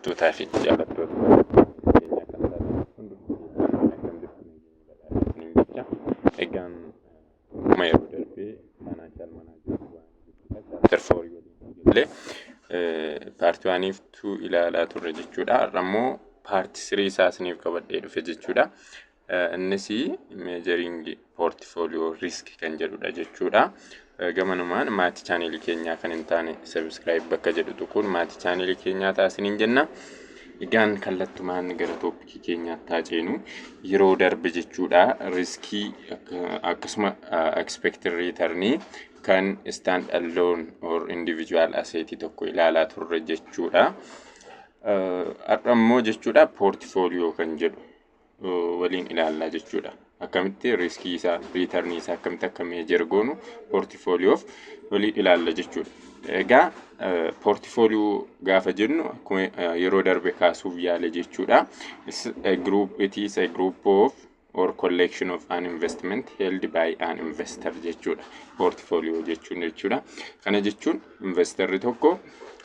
Tootaa fi jaallattoota keenya kan taatan hundi kan jirtu isiniin jecha egaan akkuma yeroo darbee maanaa jaal manaa jiru waan chapter four waliin illee paartii waaniif tuu ilaalaa turre jechuudha. Har'a immoo paartii sirii isaa isiniif qabadhee dhufe jechuudha. Innis measuring portfolio risk kan jedhudha jechuudha. Gamanumaan maatii chaanelii keenyaa kan hin taane subscribe bakka jedhu tuquun maatii chaanelii keenyaa taasiniin jenna. Egaan kallattumaan gara tooppikii keenyaatti haa ceenu. Yeroo darbe jechuudha riskii akkasuma expected return kan stand alone or individual asset tokko ilaalaa turre jechuudha. Har'a immoo jechuudha portfolio kan jedhu waliin ilaalla jechuudha. Akkamitti riiskii isaa, riitarnii isaa akkamitti akka meejer goonu poortifooliyoof waliin ilaalla jechuudha. Egaa poortifooliyoo gaafa jennu akkuma yeroo darbe kaasuuf yaale jechuudha. Group it is a group of or collection of an investment held by an investor jechuudha. Poortifooliyoo jechuun jechuudha. Kana jechuun investarri tokko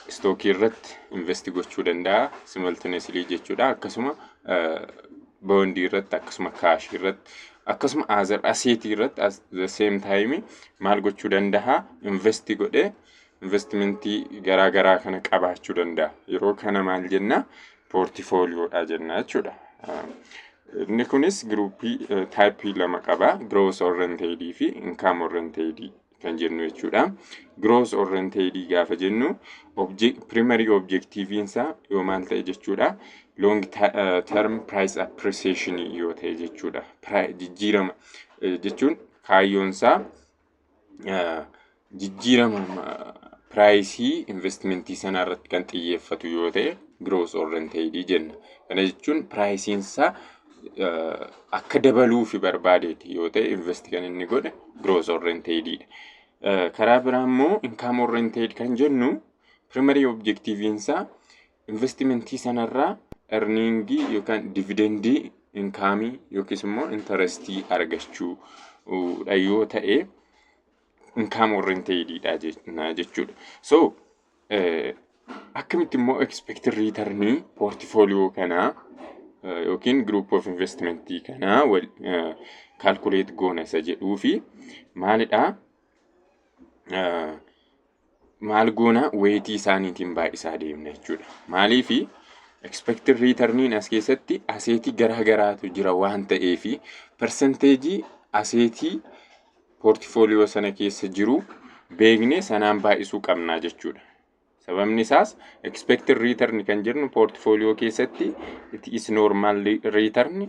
istookii irratti investi gochuu danda'a simultaneously jechuudha. Akkasuma boondii irratti akkasuma kaashii irratti akkasuma azar aseetii irratti as the same time maal gochuu danda'a investi godhee investimentii garaa garaa kana qabaachuu danda'a yeroo kana maal jenna poortifooliyoodha jenna jechuudha. Inni kunis giruuppii taayippii lama qaba. Growth oriented fi income oriented kan jennu jechuudha. Gross oriented gaafa jennu primary objectiviin isaa yoo maal ta'e jechuudha. Long term price appreciation yoo ta'e jechuudha. Jijjiirama jechuun kaayyoon isaa jijjiirama piraayisii investimentii sanaa irratti kan xiyyeeffatu yoo ta'e gross oriented jenna. Kana jechuun piraayisiin isaa akka dabaluufi barbaadeeti yoo ta'e invest kan inni godhe growth oriented dha. Karaa biraa immoo income oriented kan jennu primary objective isaa investimentii sanarraa earningii yookaan dividendii inkaamii yookiis immoo intarestii argachuu dha yoo ta'e income oriented dha jechuudha. So Akkamitti immoo expected return portfolio kanaa yookiin group of investment kanaa calculate goona isa jedhuu fi maalidhaa maal goona weetii isaaniitiin baay'isaa deemna jechuudha. Maaliif expected returniin as keessatti aseetii garaa garaatu jira waan ta'eef persenteejii aseetii poortifooliyoo sana keessa jiru beeknee sanaan baay'isuu qabnaa jechuudha. Sababni isaas expected return kan jennu poortifooliyoo keessatti it is normal return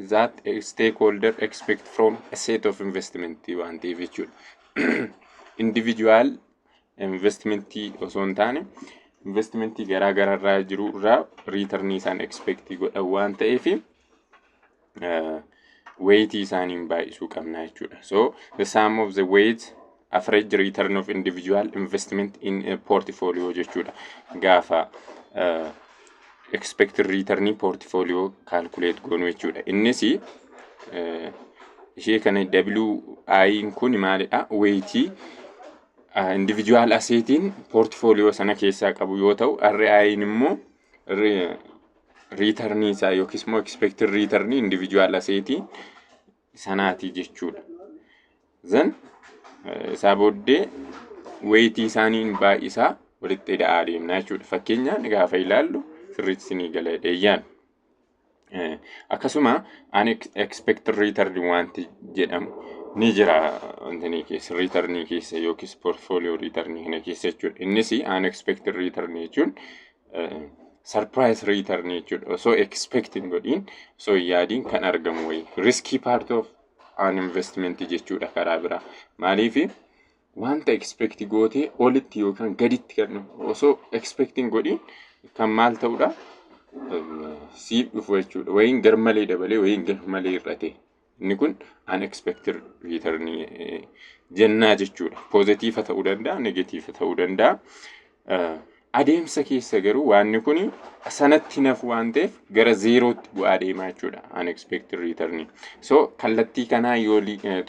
that a stakeholder expect from a set of investment waan ta'eef jechuudha. Individual investmentii osoo hin taane investmentii garaa garaa irraa jiru irraa return isaan expect godhan waan ta'eef weeyitii isaaniin baay'isuu qabna jechuudha. So the sum of the weight average return of individual investment in a portfolio jechuudha. Gaafa uh, expected return portfolio calculate goonu jechuudha. Innis uh, ishee kana WI kun maalidha? Weeyitii individual aseetiin portfolio sana keessaa qabu yoo ta'u, RI immoo riitarnii isaa yookiis immoo expected riitarnii individual aseetii sanaatii jechuudha. Zan isaa booddee weetii isaaniin baay'isaa walitti ida'aa deemna jechuudha. Fakkeenyaan gaafa ilaallu sirriitti isinii gala dheeyyaan. Eh, akkasuma an expect return wanti jedhamu ni jira wantini keessa return keessa yookiis portfolio return kana keessa jechuudha innis an expect return jechuun eh, surprise return jechuudha osoo expect hin godhin osoo hin yaadin kan argamu wayi risky part of an investment jechuudha karaa biraa maaliifi wanta expect gootee olitti yookaan gaditti kan dhufu osoo expect hin godhin kan maal ta'udha siif dhufu jechuudha wayiin garmalee dabalee wayiin garmalee hir'ate inni kun unexpected return jennaa jechuudha poozitiifa ta'uu danda'a negatiifa ta'uu danda'a Adeemsa keessa garuu waanni kun sanatti nafu waan ta'eef gara zeerootti bu'aa deemaa jechuudha unexpected return. So kallattii kanaa yoo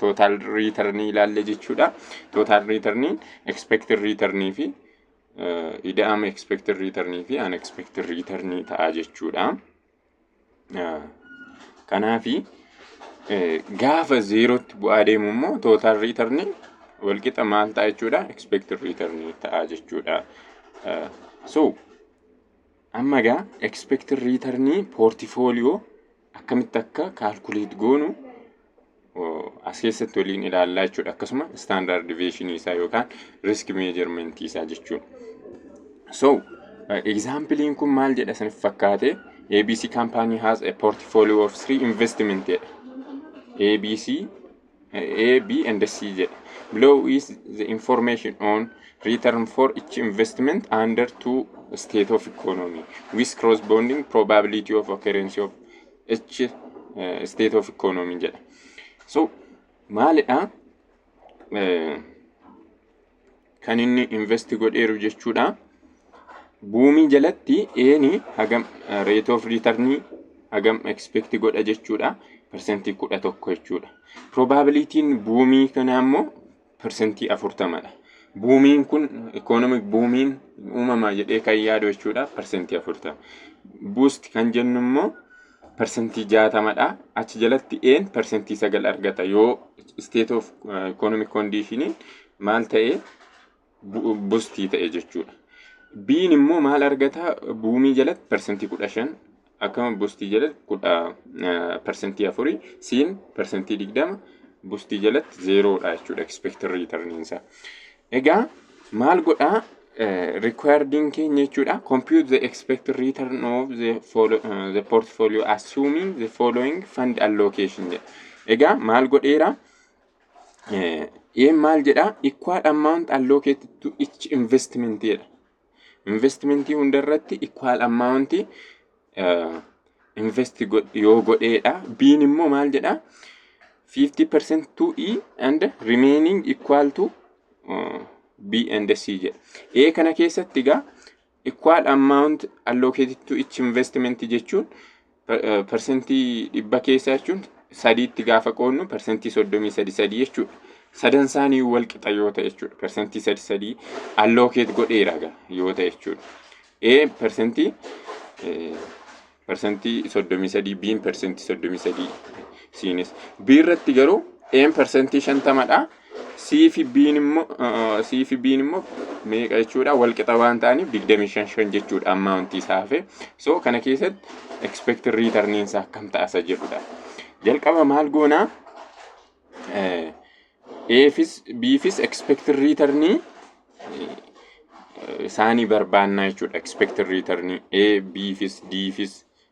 total return ilaalle jechuudha. Total return expected return fi ida'ama expected return fi unexpected return ta'a jechuudha. Kanaafi gaafa zeerootti bu'aa deemu immoo tootaal riitarniin walqixa maal ta'a jechuudha? Expected return ta'a jechuudha. So amma egaa expected return portifooliyoo akkamitti akka kaalkuleet goonu as keessatti waliin ilaallaa jechuudha. Akkasuma standard deviation isaa yookaan risk measurement isaa jechuudha. So, examplein kun maal jedha isiniif fakkaate? ABC company has a portfolio of three investment jedha. ABC, A, B and C jedha. Below is the information on return for each investment under two state of economy with corresponding probability of occurrence of H state of economy jedha. So maalidha kan inni invest godheeru jechuudha. Buumii jalatti eeni hagam rate of return hagam expect godha jechuudha. Persentii kudha tokko jechuudha. Probabilitiin buumii kanaa immoo persentii 40 dha. Buumiin kun economic buumiin uumamaa jedhee kan yaadu jechuudha persentii 40. Boost kan jennu immoo persentii 60 dha. Achi jalatti een persentii 9 argata yoo state of economic condition maal ta'e bustii ta'e jechuudha. Biin immoo maal argata buumii jalatti persentii 15 akkama bustii jalatti kudha parsantii afurii siin parsantii digdama bustii jalatti zeeroodha jechuudha expected return isaa. Egaa maal godhaa requiredin keenya jechuudha compute the expected return of the, follow, uh, the portfolio assuming the following fund allocation jedha. Egaa maal godheera? Ee maal jedhaa? Equal amount allocated to each investment jedha. Investimentii hunda irratti equal amount invest yoo godheedha. Biin immoo maal jedhaa? 50% to E and remaining equal to uh, B and C jedha. A kana keessatti egaa equal amount allocated to each investment jechuun persentii dhibba keessa jechuun sadiitti gaafa qoodnu persentii soddomii sadi sadii jechuudha. Sadan isaanii wal qixa yoo ta'e jechuudha. Persentii sadi sadii allookeet godheera yoo ta'e jechuudha. A persentii persentii soddomii sadii B'n persentii soddomii sadii siinis. B irratti garuu A'n persentii shantamadha C fi B'n immoo uh, C fi B'n immoo meeqa jechuudha wal qixa waan ta'aniif 25 5 jechuudha amount isaa hafe so kana keessatti expected return isaa akkam ta'asa jedhudha jalqaba maal goonaa eh, A'fis B'fis expected return eh, isaanii barbaannaa jechuudha expected return A B'fis D'fis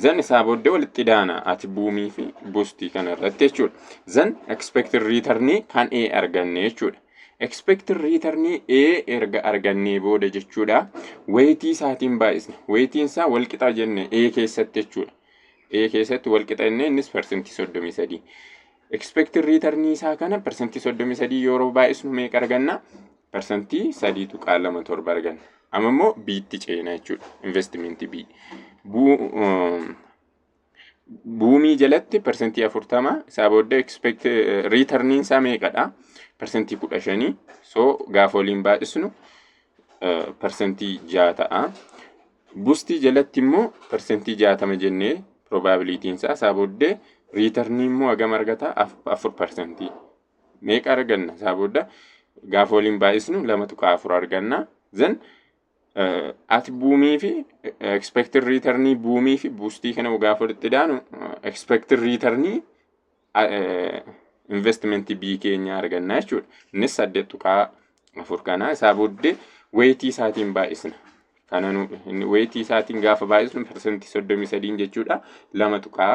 Zan isaa booddee walitti daana ati buumii fi buustii kana irratti jechuudha. Zan expected return kan A arganne jechuudha. Expected return A erga argannee booda jechuudha. Weetii isaatiin baay'isna. Weetiin isaa walqixa jenne A keessatti jechuudha. A keessatti walqixa jenne innis parsantii 33. Expected return isaa kana parsantii 33 yeroo baay'isnu meeqa arganna? parsantii 3.27 arganna. Amma immoo B'tti ceena jechuudha. Investimentii B. Buumii jalatti parsantii 40 isaa booda expect riitarniin isaa meeqadha? Parsantii 15 so gaafa waliin baay'isnu parsantii 6 ta'a. Bustii jalatti immoo parsantii 60 jennee probabilitiin isaa isaa booddee riitarnii immoo hagam argata? 4 parsantii. meeqa arganna isaa booda gaafa waliin baay'isnu lama tuqaa afur arganna zan ati buumii fi expected returnii buumii fi buustii kana gaafa walitti daanu expected returnii investment B keenya arganna jechuudha. Innis saddeet tuqaa afur kana isaa booddee weetii isaatiin baay'isna. Kana weetii isaatiin gaafa baay'isnu parsantii soddomii sadiin jechuudha lama tuqaa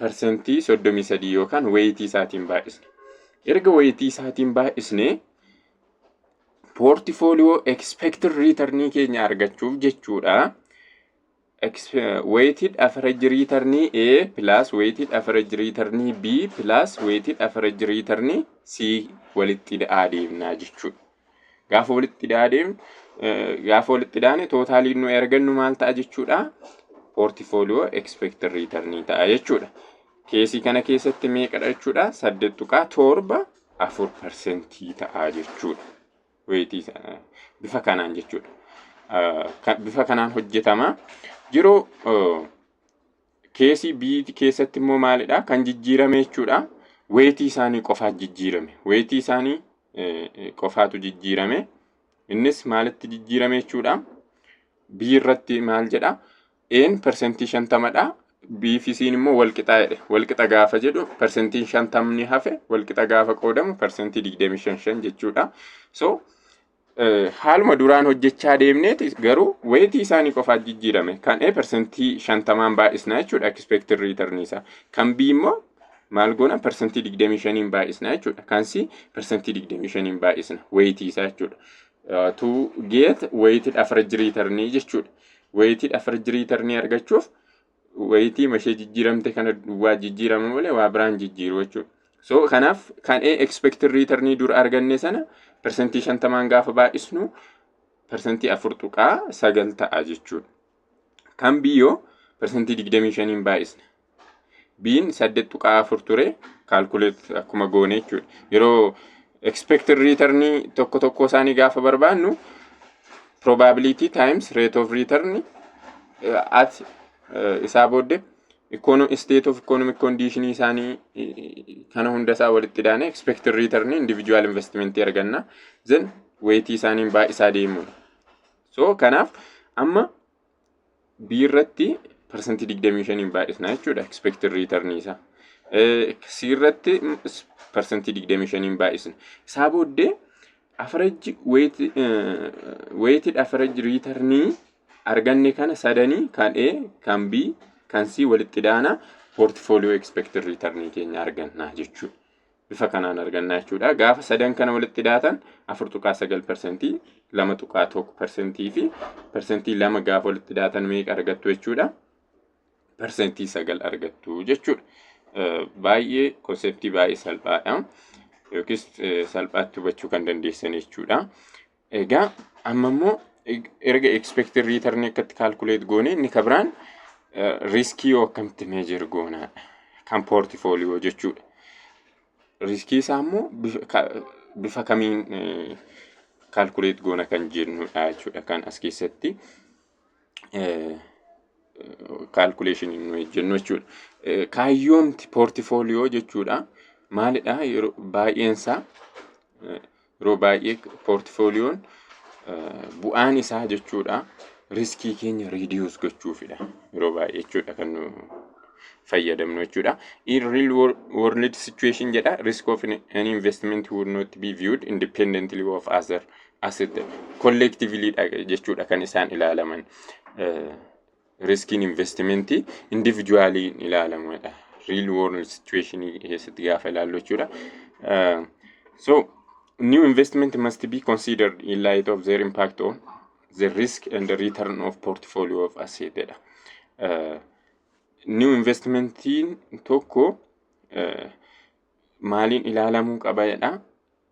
parsantii 33 yookaan wayitii isaatiin baay'isna. Erga wayitii isaatiin baay'isne poortifooliyoo expected return keenya argachuuf jechuudha. Weighted average return A plus weighted average return B plus weighted average return C walitti adeemnaa jechuudha. Gaafa walitti hidhaa deemnu gaafa walitti hidhaane tootaaliin nuyi argannu maal ta'a jechuudha? Poortifooliyoo ekspeektir riitarnii ta'a jechuudha. Keesii kana keessatti meeqadha jechuudha? Saddeet tuqaa torba afur parsentii ta'a jechuudha. Weetii bifa kanaan jechuudha. Bifa kanaan hojjetama. Yeroo Keesii B keessatti immoo maalidha? Kan jijjiirame jechuudha. Weetii isaanii qofaatu jijjiirame. Weetii isaanii qofaatu jijjiirame. Innis maalitti jijjiirame jechuudha? B irratti maal jedha? A'n persentii shantamadha. B fi C'n immoo walqixaa jedhe. Walqixa gaafa jedhu persentiin shantamni hafe walqixa gaafa qoodamu persentii digdamii shan shan jechuudha. So haaluma duraan hojjechaa deemneeti garuu weetii isaanii qofaat jijjiirame. Kan A persentii shantamaan baay'isnaa jechuudha expected return isaa. Kan B immoo maal goona persentii digdamii shaniin baay'isnaa jechuudha. Kan C persentii digdamii shaniin baay'isna weetii isaa jechuudha. To get weighted average return jechuudha. Weighted average return argachuuf wayitii mashee jijjiiramte kana duwwaa jijjiirama malee waa biraan jijjiiru jechuudha. So kanaaf kan A expected return dur arganne sana persentii shantamaan gaafa baay'isnu persentii afur tuqaa sagal ta'a jechuudha. Kan B yoo persentii digdamii shaniin baay'isna. B'n saddeet tuqaa afur ture kaalkuleet akkuma goone jechuudha. Yeroo Expected return tokko tokkoo isaanii gaafa barbaannu probability times rate of return eh, at eh, isaa booddee econo- state of economic condition isaanii eh, kana hunda isaa walitti daane expected return individual investment arganna then weight isaaniin baay'isaa deemuudha. So kanaaf amma B irratti parsantii 25 baay'isna jechuudha expected return isaa. C irratti parsantii 25 baay'isna. Isaa booddee average weighted average return arganne kana sadanii kan A, kan B, kan C walitti daana portfolio expected return keenya arganna jechuudha. bifa kanaan argannaa jechuudha. Gaafa sadan kana walitti daatan 4.9 persentii, 2.1 persentii fi persentii lama gaafa walitti daatan meeqa argattu jechuudha? Persentii sagal argattu jechuudha. Baay'ee konseptii baay'ee salphaadha. Yookiis salphaatti hubachuu kan dandeessan jechuudha. Egaa amma immoo erga expected return akkatti calculate goone inni ka biraan riskii yoo akkamitti measure goonaadha. Kan portfolio jechuudha. Riskii isaa immoo bifa- ka- bifa kamiin calculate goona kan jennudha jechuudha kan as keessatti. kaalkuleeshinii nuyi jennu jechuudha. Kaayyoomti poortifooliyoo jechuudha maalidha yeroo baay'eensaa yeroo baay'ee poortifooliyoon bu'aan isaa jechuudha riskii keenya riidiyuus gochuufidha yeroo baay'ee jechuudha kan nu fayyadamnu jechuudha. In real world situation jedha risk of an investment would not be viewed independently of other Asitti collectively dha jechuudha kan isaan ilaalaman. Eh, Riskiin investimentii individually hin ilaalamadha. Real world situation keessatti gaafa ilaallu jechuudha. Eh, So, new investment must be considered in light of their impact on the risk and the return of portfolio of asset dha. Eh, New investmentiin tokko eh, maaliin ilaalamuu qaba jedha.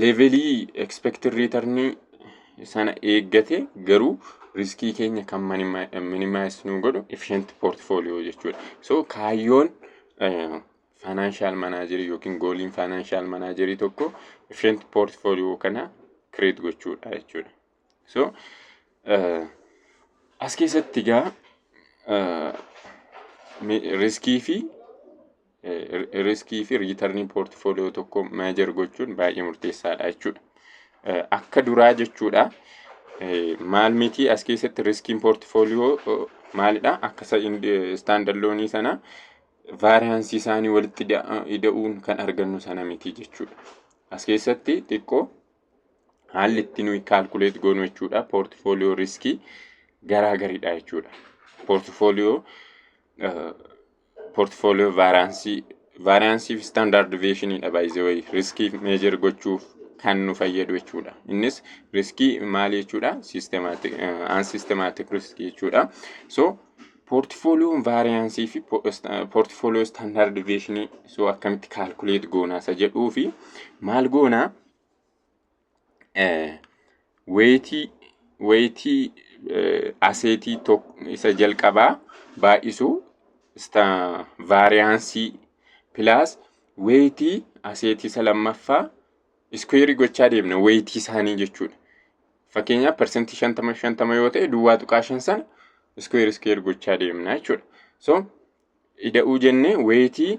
leevelii expected return sana eeggate garuu riskii keenya kan minimize nu godhu efficient portfolio jechuudha. So kaayyoon financial manager yookiin gooliin financial manager tokko efficient portfolio kana create gochuudha jechuudha. So, as keessatti egaa riskii fi riskii fi riitarnii poortifooliyoo tokko meejar gochuun baay'ee murteessaadha jechuudha. Akka duraa jechuudha. Maal miti as keessatti riskiin poortifooliyoo maalidha? Akka istaandard loonii sana vaariyaansii isaanii walitti ida'uun kan argannu sana miti jechuudha. As keessatti xiqqoo haalli itti nuyi kaalkuleet goonu jechuudha poortifooliyoo riskii garaa garidha jechuudha. Poortifooliyoo poortifooliyoo vaaraansii vaaraansii fi standard deviationidha baay'ee riskii meejer gochuuf kan nu fayyadu jechuudha. Innis riskii maal jechuudha systematic an systematic risk jechuudha. So poortifooliyoon vaariyaansii fi poortifooliyoo standard deviationii so akkamitti kaalkuleet goonaa isa jedhuu fi maal goonaa Wayitii aseetii isa jalqabaa baay'isu vaariyaansii pilaas wayitii aseetii isa lammaffaa iskuweerii gochaa deemna wayitii isaanii jechuudha. Fakkeenyaaf parsantii shantama shantama yoo ta'e duwwaa tuqaa shan sana iskuweer iskuweer gochaa deemna jechuudha. So ida'uu jennee wayitii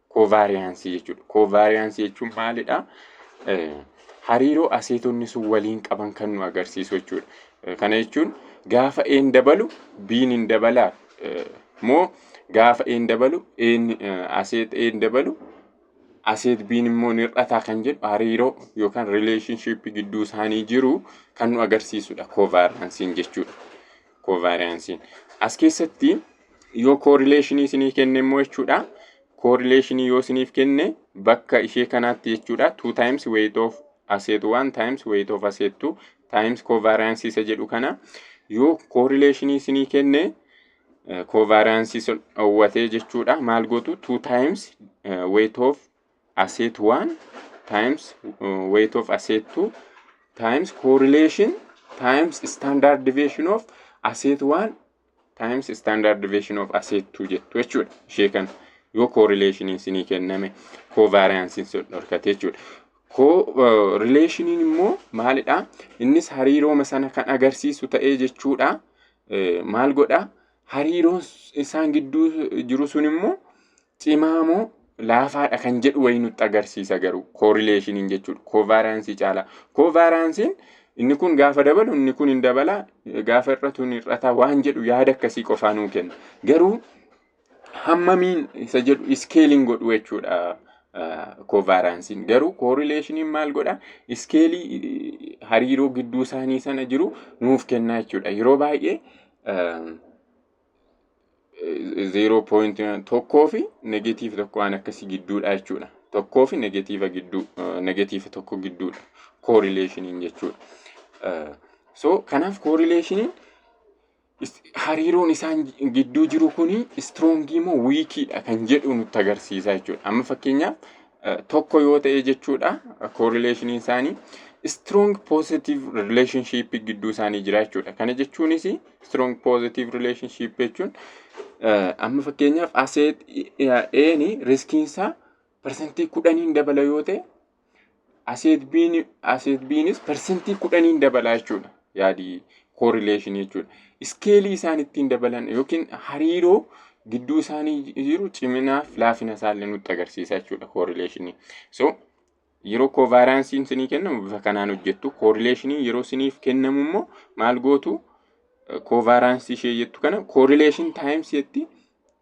Koovaariyaansii jechuudha. Koovaariyaansii jechuun maalidha? Hariiroo aseetonni sun waliin qaban kan nu agarsiisu jechuudha. Kana jechuun gaafa een dabalu biin hin dabalaa moo gaafa een dabalu een aseet een dabalu aseet biin immoo ni hir'ataa kan jedhu hariiroo yookaan rileeshinshiippii gidduu isaanii jiru kan nu agarsiisudha koovaariyaansiin jechuudha. Kovaariyaansiin. As keessatti yoo koorileeshinii isinii kenne immoo jechuudha. Koorileeshinii yoo isiniif kenne bakka ishee kanaatti jechuudha. 2 times weight of asset 1 times weight of asset 2 times kovaariyaansi isa jedhu kana yoo koorileeshinii isinii kenne kovaariyaansi sun dhoowwatee jechuudha. Maal gootu 2 times weight of asset 1 times uh, weight of asset 2 times correlation times standard deviation of asset 1 times standard deviation of asset 2 jettu jechuudha ishee kana yoo correlationiin sinii kenname covariancein sun dhorkate jechuudha ko relationin immoo maalidha innis hariirooma sana kan agarsiisu ta'ee jechuudha Eh, maal godha hariiroon isaan gidduu jiru sun immoo Cimaa moo laafaadha kan jedhu wayii nutti agarsiisa garuu koorileeshiniin jechuudha. Koovaaraansii caalaa. Koovaaraansiin inni kun gaafa dabalu inni kun hin dabala gaafa hir'atu hin hir'ata waan jedhu yaada akkasii qofaa nuu kenna. Garuu hammamiin isa jedhu iskeeliin godhu jechuudha. Koovaaraansiin garuu koorileeshiniin maal godha? Iskeelii hariiroo gidduu isaanii sana jiru nuuf kennaa jechuudha. Yeroo baay'ee zeeroo poointii tokkoo fi negatiiva tokko waan akkasii gidduudha jechuudha. Tokkoo fi negatiiva gidduu negatiiva tokko gidduudha koorileeshiniin jechuudha. So kanaaf koorileeshiniin hariiroon isaan gidduu jiru kun istroongii moo wiikiidha kan jedhu nutti agarsiisa jechuudha. Amma fakkeenyaaf tokko yoo ta'e jechuudha correlationin isaanii strong positive relationship gidduu isaanii jira jechuudha. Kana jechuunis strong positive relationship jechuun amma fakkeenyaaf aseet eeni riskiin isaa parsantii kudhaniin dabala yoo ta'e aseet biinis parsantii kudhaniin dabala jechuudha. yaadi correlation jechuudha. Iskeelii isaan ittiin dabalan yookiin hariiroo gidduu isaanii jiru ciminaa fi laafina isaallee nutti agarsiisa jechuudha correlation. So yeroo kovaaraansiin isinii kennamu bifa kanaan hojjettu correlation yeroo isiniif kennamu immoo maal gootu kovaaraansii ishee jettu kana correlation times jetti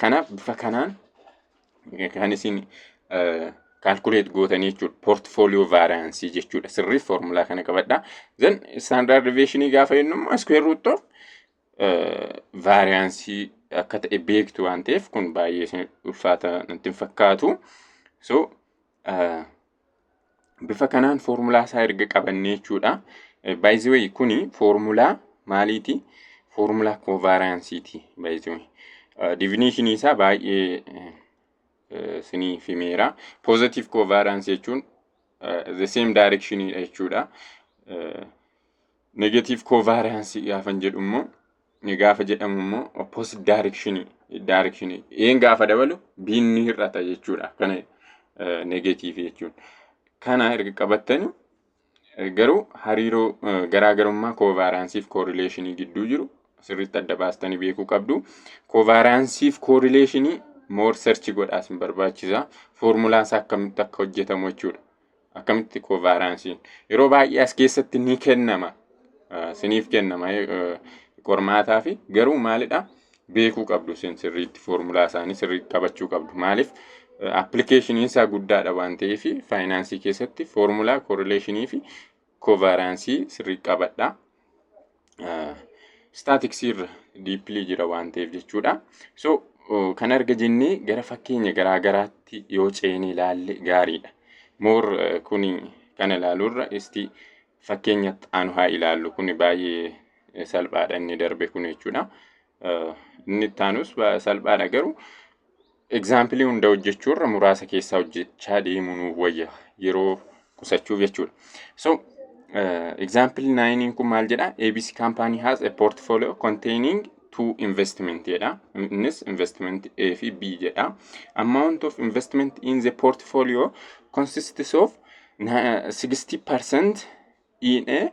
Kanaaf bifa kanaan kan isin kaalkuleet gootanii jechuudha. Poortifooliyoo vaariyaansii jechuudha. Sirrii foormulaa kana qabadha. Zan istaandaard deviyeeshinii gaafa jennu immoo iskuweer ruut of vaariyaansii akka ta'e beektu waan ta'eef kun baay'ee isin ulfaata natti hin fakkaatu. So Bifa kanaan foormulaa isaa erga qabannee jechuudha. By the way kuni foormulaa maaliiti? Foormulaa kovaaraansiiti. By the way divinishinii isaa baay'ee isiniif himeera. Positive kovaaraansi jechuun the same direction jechuudha. Negative kovaaraansi gaafan jedhu immoo ni gaafa jedhamu immoo opposite direction direction een gaafa dabalu biin ni hir'ata jechuudha kana negatiivii jechuun kana erga qabattanii eh, garuu hariiroo eh, garaagarummaa koovaaraansii fi koorileeshinii gidduu jiru sirriitti adda baastanii beekuu qabdu koovaaraansii fi koorileeshinii moor serchi godhaas hin barbaachisa foormulaa isaa akkamitti akka hojjetamu jechuudha Akkamitti koovaaraansiin? Yeroo baay'ee as keessatti ni kennama. Ah, Siniif kennama eh, eh, qormaataa fi garuu maalidha? Beekuu qabdu isin sirriitti foormulaa isaanii sirriitti qabachuu qabdu. Maaliif? Appilikeeshiniin isaa guddaadha waan ta'eef faayinaansii keessatti foormulaa koorileeshinii fi kovaaraansii sirrii qabadha. Istaatiksii irra diippilii jira waan ta'eef jechuudha. So kan arga jennee gara fakkeenya garaa garaatti yoo ceene ilaalle gaariidha. Moor kun kana ilaaluurra isti fakkeenya aanu haa ilaallu kun baay'ee salphaadha inni darbe kun jechuudha. Inni itti aanus salphaadha garuu egzaampilii hunda hojjechuu irra muraasa keessaa hojjechaa deemuu nuuf wayya yeroo qusachuuf jechuudha. So egzaampil naayiniin kun maal jedha? ABC company has a portfolio containing two investment jedha. Innis investment A fi B jedha. Amount of investment in the portfolio consists of 60% in A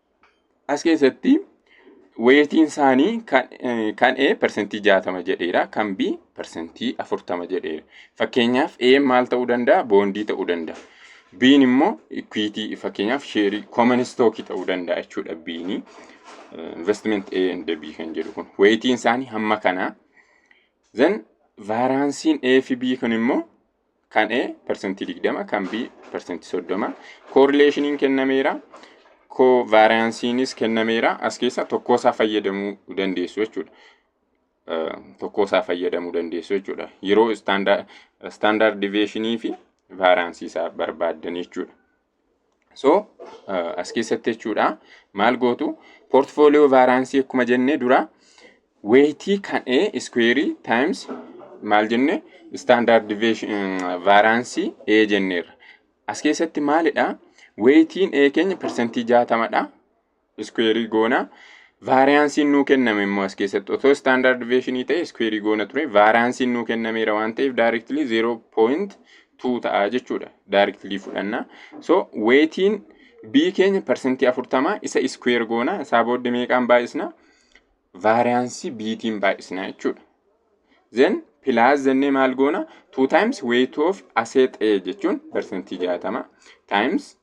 As keessatti weetiin isaanii kan, eh, kan A persentii 60 jedheera, kan B persentii 40 jedheera. Fakkeenyaaf A maal ta'uu danda'a? Boondii ta'uu danda'a. B'n immoo ikwiitii fakkeenyaaf sheerii kooman istookii ta'uu danda'a jechuudha B'n. Investment A and B kan jedhu kun weetiin isaanii hamma kanaa. Then vaaraansiin A fi B kun immoo Kan A persentii 20, kan B persentii 30. Koorileeshiniin kennameera. Koovaariyaansiinis kennameera. As keessaa tokkoo isaa fayyadamuu dandeessu jechuudha. Tokkoo isaa fayyadamuu dandeessu jechuudha. Yeroo istaandaard diveeshinii fi vaariyaansii isaa barbaaddan jechuudha. So as keessatti jechuudha maal gootu portfolio vaaraansii akkuma jennee dura weetii kan A iskuweerii times maal jenne standard deviation vaaraansii A jenneerra. As keessatti maalidha weetiin A keenya persentii jaatamadha. iskuweerii goona. Vaariyaansiin nuu kenname immoo as keessatti otoo istaandaard deviyeeshinii ta'e iskuweerii goona ture. Vaariyaansiin nuu kennameera waan ta'eef daayireektilii 0.2 ta'a jechuudha. Daayireektilii fudhanna. So weetiin B keenya parsantii 40 isa iskuweer goona. Isaa booddee meeqaan baay'isna? Vaariyaansii B'tiin baay'isna jechuudha. Then pilaas jennee maal goona? 2 times weight of asset A jechuun parsantii 60 times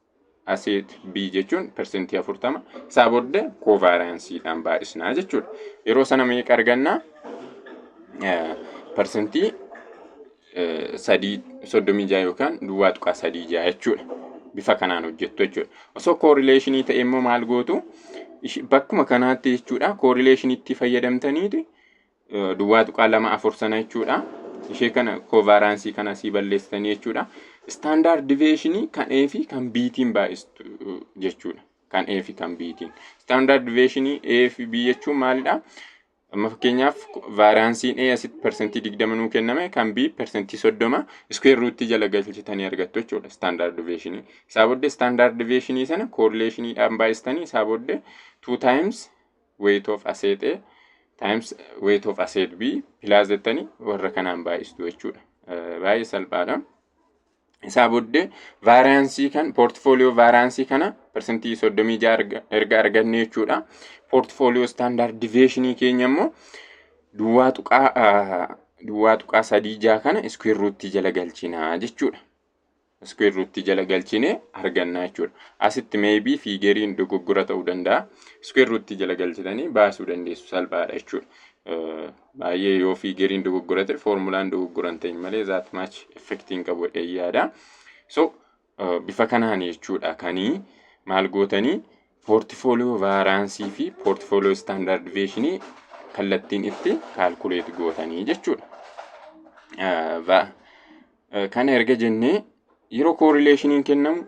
aseet B jechuun persentii 40 isaa booda kovaariyaansiidhaan baay'isnaa jechuudha. Yeroo sana meeqa arganna? Persentii sadii soddomii jaha yookaan duwwaa tuqaa sadii jaha jechuudha. Bifa kanaan hojjettu jechuudha. Osoo koorileeshinii ta'e immoo maal gootu? Bakkuma kanaatti jechuudha koorileeshiniitti fayyadamtaniiti duwwaa tuqaa lama afur sana jechuudha. Ishee kana kovaaraansii kana sii balleessitanii jechuudha. Istaandaard diveeshinii kan A fi kan B tiin baay'istu jechuudha. Kan A fi kan B tiin. Istaandaard diveeshinii A fi B jechuun maalidha? Amma fakkeenyaaf vaaraansiin A asitti parsantii digdama nuu kenname kan B parsantii soddoma iskuweer ruutii jala galchitanii argattu jechuudha istaandaard diveeshinii. Isaa booddee istaandaard diveeshinii sana koorileeshiniidhaan baay'istanii isaa booddee two times weight of asset A times weight of asset B plus jettanii warra kanaan baay'istu jechuudha. Baay'ee salphaadha. Isaa booddee vaariyaansii kan poortifooliyoo vaariyaansii kana parsantii 36 erga arganne jechuudha. Poortifooliyoo istaandaard diveeshinii keenya immoo duwwaa tuqaa duwwaa tuqaa sadii jaha kana iskuweer ruuttii jala galchina jechuudha. square root jala galchine arganna jechuudha. Asitti maybe fiigeriin dogoggora ta'uu danda'a. Square root jala galchitanii baasuu dandeessu salphaadha jechuudha. Baay'ee yoo fiigeriin dogoggora ta'e foormulaan dogoggora hin ta'in malee zaat maach effektii hin qabu jedhee yaada. So bifa kanaan jechuudha kanii maal gootanii poortifooliyoo vaaraansii fi poortifooliyoo istaandaardiveeshinii kallattiin itti kaalkuleet gootanii jechuudha. Kana erga jennee yeroo koorileeshiniin kennamu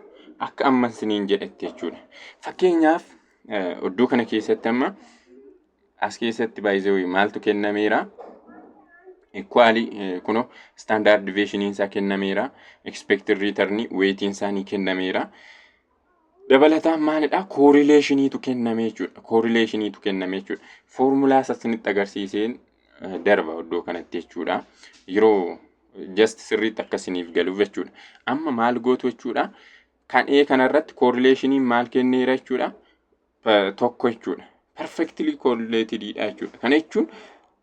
akka amma isiniin jedhetti jechuudha. Fakkeenyaaf iddoo kana keessatti amma as keessatti baay'ee maaltu kennameera? Ikwaali kuno istaandaard deviyeeshiniin isaa kennameera. Ekspeektir riitarni weetiin isaanii kennameera. Dabalataan maalidha? Koorileeshiniitu kenname jechuudha. Koorileeshiniitu kenname jechuudha. Foormulaa sasinitti agarsiiseen darba iddoo kanatti jechuudha. Yeroo just sirriitti akka isiniif galuuf jechuudha. Amma maal gootu jechuudha? Kan A kanarratti koorileeshiniin maal kenneera jechuudha? Tokko jechuudha. Perfectly correlated dha jechuudha. Kana jechuun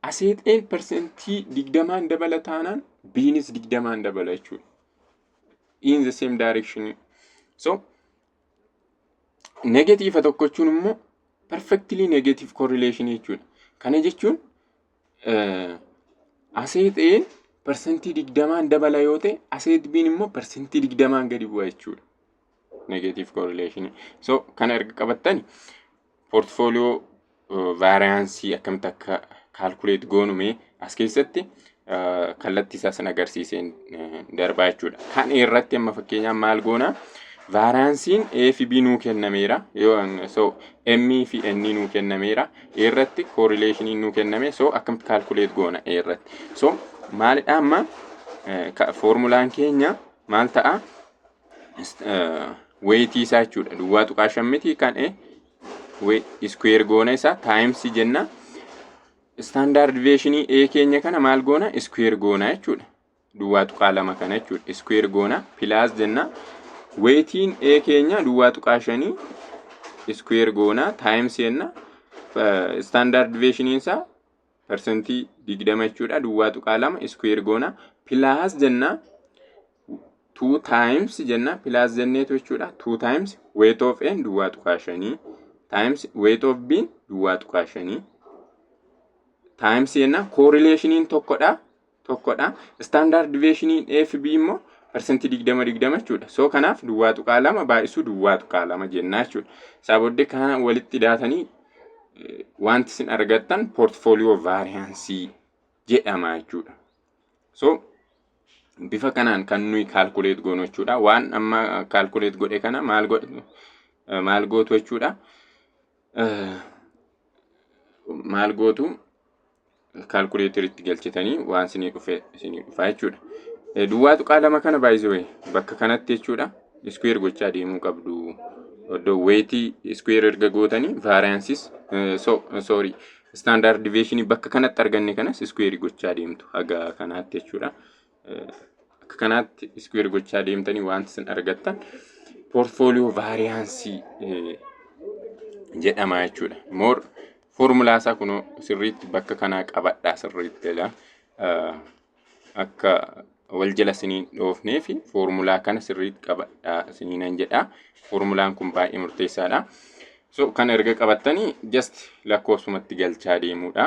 aseexeen persentii digdamaan dabala taanaan biinis digdamaan dabala jechuudha. in the same direction so negatiiva tokko jechuun immoo perfectly negative correlation jechuudha kana jechuun aseet ee parsantii digdamaan dabala yoo ta'e aseet biin immoo parsantii digdamaan gadi bu'a jechuudha negative correlation. So kana erga qabattani portfolio variance akkamitti akka calculate goonu mee as keessatti kallattii isaa sin agarsiiseen darbaa jechuudha. Kan irratti amma fakkeenyaaf maal goona? Vaaraansiin A fi B nuu kennameera. So M fi N nuu kennameera. Irratti correlationiin nuu kenname. So akkamitti calculate goona irratti. So maalidha amma formulaan keenya maal ta'a? weetii isaa jechuudha duwwaa tuqaa shan miti kan e iskuweer goona isaa taayimsi jenna istaandaard deviyeeshinii e keenya kana maal goona iskuweer goona jechuudha duwwaa tuqaa lama kana jechuudha iskuweer goona pilaas jenna weetiin e keenya duwwaa tuqaa shanii iskuweer goona taayimsi jenna istaandaard deviyeeshiniin isaa parsantii digdama jechuudha duwwaa tuqaa lama iskuweer goona pilaas jenna two times jenna pilaas jenneetu jechuudha two times weight of n duwwaa tuqaa shanii times weight of b duwwaa tuqaa shanii times jenna koorileeshiniin tokkodha tokkodha. Standard deviation FB immoo parsantii digdama digdama jechuudha. So kanaaf duwwaa tuqaa lama baay'isuu duwwaa tuqaa lama jennaa jechuudha. Isaa booddee kana walitti daatanii wanti isin argattan portfolio vaariyaansii jedhama jechuudha. So bifa kanaan kan nuyi kaalkuleet goonu jechuudha. Waan amma kaalkuleet godhe kana maal godhu maal gootu jechuudha. Maal gootu kaalkuleeter itti galchitanii waan isinii dhufe isinii dhufaa jechuudha. Eh, Duwwaa tuqaa lama kana baay'isee bakka kanatti jechuudha iskuweer gochaa deemuu qabdu. Oddoo weetii iskuweer erga gootanii vaariyaansis soorii istaandaard diveeshinii bakka kanatti arganne kanas iskuweerii gochaa deemtu haga kanaatti jechuudha. akka kanaatti iskuweer gochaa deemtanii wanti isin argattan poortfooliyoo vaariyaansii jedhama jechuudha. Moor foormulaa isaa kunoo sirriitti bakka kanaa qabadhaa sirriitti jedha. Akka wal jala isiniin dhoofnee fi foormulaa kana sirriitti qabadhaa isiniinan jedha. Foormulaan kun baay'ee murteessaadha. So kan erga qabattanii just lakkoofsumatti galchaa deemuudha.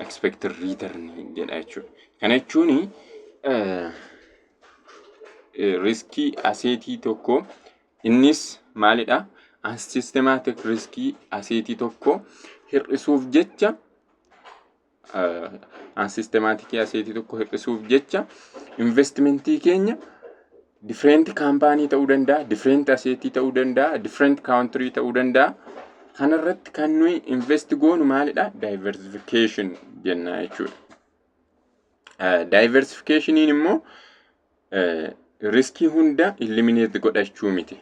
expected return jedha jechuudha. Kana jechuun riskii aseetii tokko innis maalidha? Systematic riskii aseetii tokko hir'isuuf jecha systematic aseetii tokko hir'isuuf jecha investimentii keenya different kaampaanii ta'uu danda'a, different aseetii ta'uu danda'a, different country ta'uu danda'a. Kanarratti kan nuyi invest goonu maalidha? Diversification jenna jechuudha. Diversificationiin immoo riskii hunda eliminate godhachuu miti.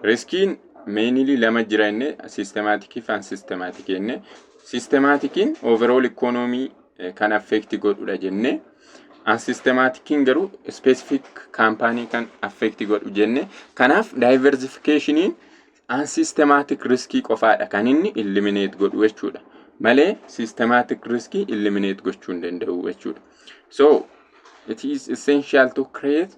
Riskiin meenilii lama jira inni sistemaatikii fi ansistemaatikii inni sistemaatikiin overall ikoonoomii kan affeekti godhudha jennee As sistemaatikiin garuu specific kaampaanii kan affeekti godhu jenne. Kanaaf diversificationin an systematic riskii qofaadha kan inni eliminate godhu jechuudha. Malee systematic riskii eliminate gochuu hin danda'u jechuudha. So it is essential to create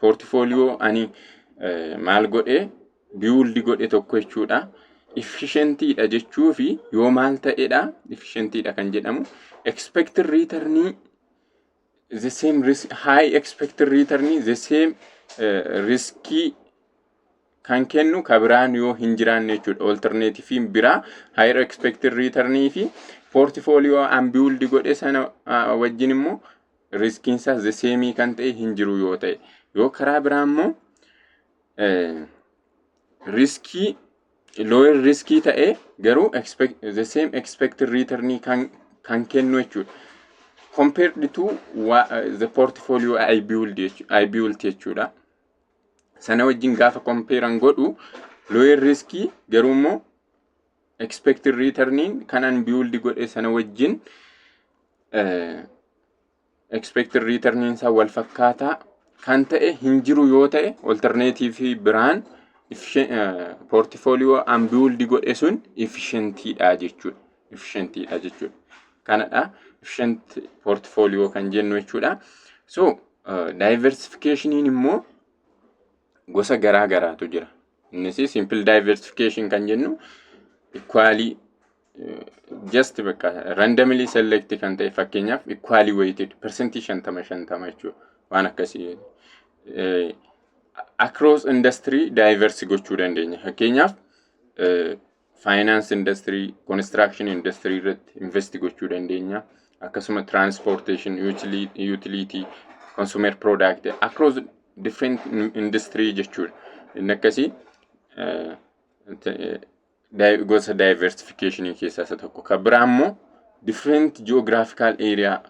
Poortifooliyoo ani maal godhe biyuuldi godhe tokko jechuudha. Ifishentiidha jechuu fi yoo maal ta'edha ifishentiidha kan jedhamu. Expected returnii the same risk high expected returnii the same uh, riskii kan kennu ka biraan yoo hin jiraanne jechuudha. Alternative biraa higher expected return fi portfolio unbuild godhe sana uh, wajjin immoo riskiin isaa the same kan ta'e hin jiru yoo ta'e yoo karaa biraa immoo eh, riskii lower riskii ta'e garuu expect, the same expected return kan, kan kennu jechuudha. compared to wa- uh, the portfolio I build jechu- I built jechuudha. Sana wajjin gaafa compare an godhu lower riskii garuu immoo expected return kan an build godhe sana wajjin eh, expected return isaa wal fakkaataa kan ta'e hin jiru yoo ta'e alternative biraan efficient- eh, portfolio an build godhe sun efficient dha jechuudha. Efficient dha jechuudha. Kanadha efficient portfolio kan jennu jechuudha. So eh, diversification immoo gosa garaa garaatu jira. Innis simple diversification kan jennu equally eh, just bakka randomly select kan ta'e fakkeenyaaf equally weighted percentage shantama shantama jechuudha. Waan akkasii eh, across industry diverse gochuu dandeenya. Fakkeenyaaf eh, faayinaansi indastirii, konistiraakshini indastirii irratti investi gochuu dandeenya. Akkasuma tiraanspoorteeshin, yuutiliitii, konsumer piroodaakti, akroos different industirii jechuudha. Inni akkasii gosa daayiversifikeeshinii keessaa isa tokko. Kan biraa immoo different ji'oogiraafikaal eeriyaa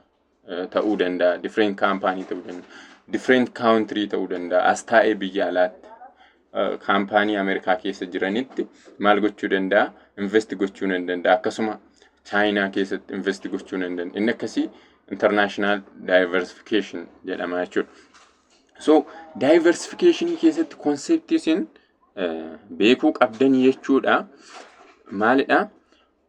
ta'uu danda'a, different company ta'uu danda'a, different country ta'uu danda'a. As taa'ee biyya alaatti kaampaanii Ameerikaa keessa jiranitti maal gochuu danda'a? Invest gochuu nan danda'a. Akkasuma Chaayinaa keessatti invest gochuu nan danda'a. Inni akkasii international diversification jedhama jechuudha. So diversification keessatti konseptii isin beekuu qabdan jechuudha. Maalidha?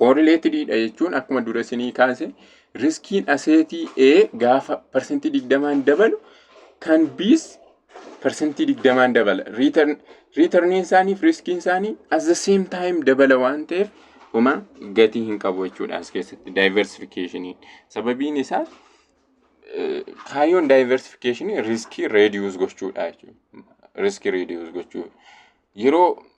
Koorileetidii dha jechuun akkuma dura isinii kaase riskiin aseetii A gaafa parsantii digdamaan dabalu kan B's parsantii digdamaan dabala. Riitarniin isaanii fi riskiin isaanii as the same time dabala waan ta'eef homa gatii hin qabu jechuudha as keessatti daayiversifikeeshiniin. Sababiin isaa kaayyoon daayiversifikeeshinii riskii reediyuus gochuudha jechuudha. Riskii reediyuus gochuudha. Yeroo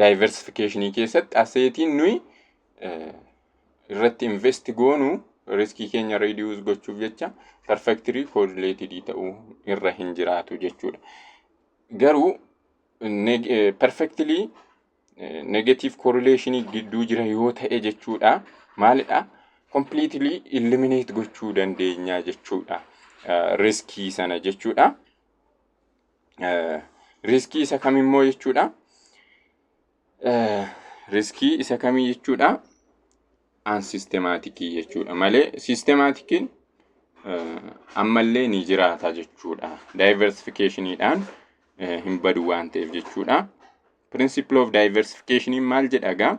daayiversifikeeshinii keessatti aseetiin nuyi irratti invest goonu riskii keenya reduce gochuuf jecha perfectly correlated ta'uu irra hin jiraatu jechuudha. Garuu perfectly negative correlation gidduu jira yoo ta'e jechuudha. Maalidha? Completely eliminate gochuu dandeenya jechuudha. Riskii sana jechuudha. Riskii isa kam immoo jechuudha. Riskii isa kamii jechuudha. Aan sistemaatikii jechuudha malee sistemaatikiin ammallee ni jiraata jechuudha. Daayiversifikeeshiniidhaan hin badu waan ta'eef jechuudha. Principle of diversification maal jedha egaa?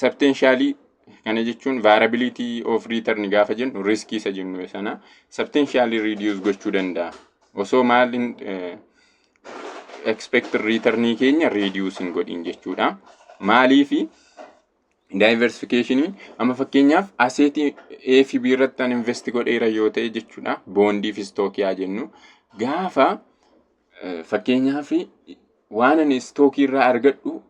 Sabteenshaalii kana jechuun vaarability of return gaafa jennu riskii isa jennu sana sabteenshaalii reduce gochuu danda'a. Osoo maal hin expect return keenya reduce hin godhin jechuudha. Maaliifi diversification amma fakkeenyaaf aseetii A fi B irratti an invest godheera yoo ta'e jechuudha. Boondii fi stookii haa jennu. Gaafa fakkeenyaaf waan ani stookii irraa argadhu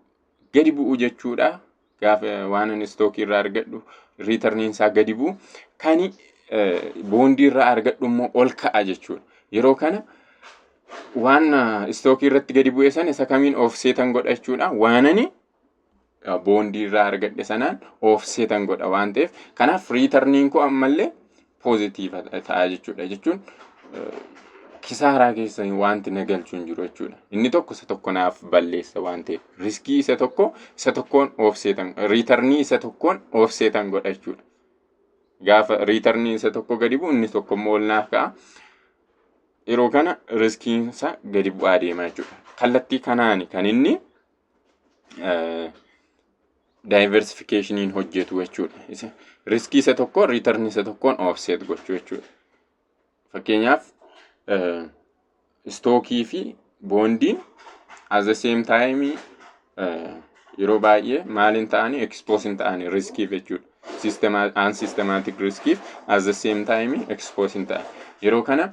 gadi bu'u jechuudha. Gaafa waan ani istookii irraa argadhu riitarniin isaa gadi bu'u. Kan boondii irraa argadhu immoo ol ka'a jechuudha. Yeroo kana waan istookii irratti gadi bu'e sana isa kamiin oofseetan godha jechuudha. Waan ani boondii irraa argadhe sanaan oofseetan godha waan ta'eef. Kanaaf riitarniin koo ammallee poozitiiva ta'a jechuudha. Jechuun kisaaraa keessa wanti na galchu hin jiru jechuudha. Inni tokko isa tokko naaf balleessa waan ta'eef riskii isa tokko isa tokkoon oofseetan riitarnii isa tokkoon oofseetan godha jechuudha. Gaafa riitarnii isa tokko gadi bu'u inni tokko immoo ol naaf ka'a. Yeroo kana riskiin isaa gadi bu'aa deema jechuudha. Kallattii kanaan kan inni daayiversifikeeshiniin hojjetu jechuudha. Riskii isa tokko riitarni isa tokkoon oofseet gochuu jechuudha. Fakkeenyaaf istookii fi boondiin as the same time yeroo baay'ee maaliin ta'anii ekspoosiin ta'anii riskiif jechuudha. Aan sistemaatik riskiif as the same time ekspoosiin ta'an yeroo kana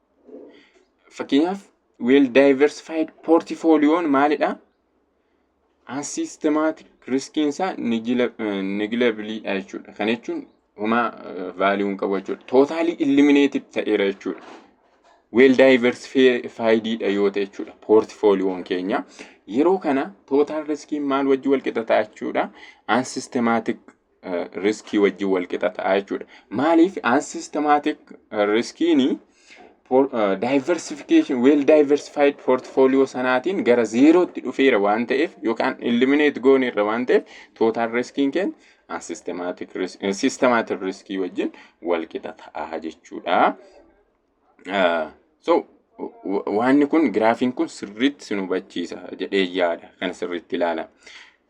Fakkeenyaaf well diversified portfolioon maalidha? An systematic riskiin isaa negilabiliidha jechuudha. Kana jechuun homaa value hin qabu jechuudha. Totally eliminated ta'eera jechuudha. Well diversified dha yoo ta'e jechuudha. Portfolioon keenya yeroo kana total riskiin maal wajji wal qixa ta'a jechuudha. An systematic riskii wajjin wal qixa ta'a jechuudha. Maaliif unsystematic riskiin diversification well diversified portfolio sanaatiin gara zeerootti dhufeera waan ta'eef yookaan eliminate gooneerra waan ta'eef total riskiin keenya unsystematic risk systematic riskii wajjin wal qixa ta'a jechuudha. So waanni kun giraafiin kun sirriitti sin hubachiisa jedhee yaada kan sirriitti ilaala.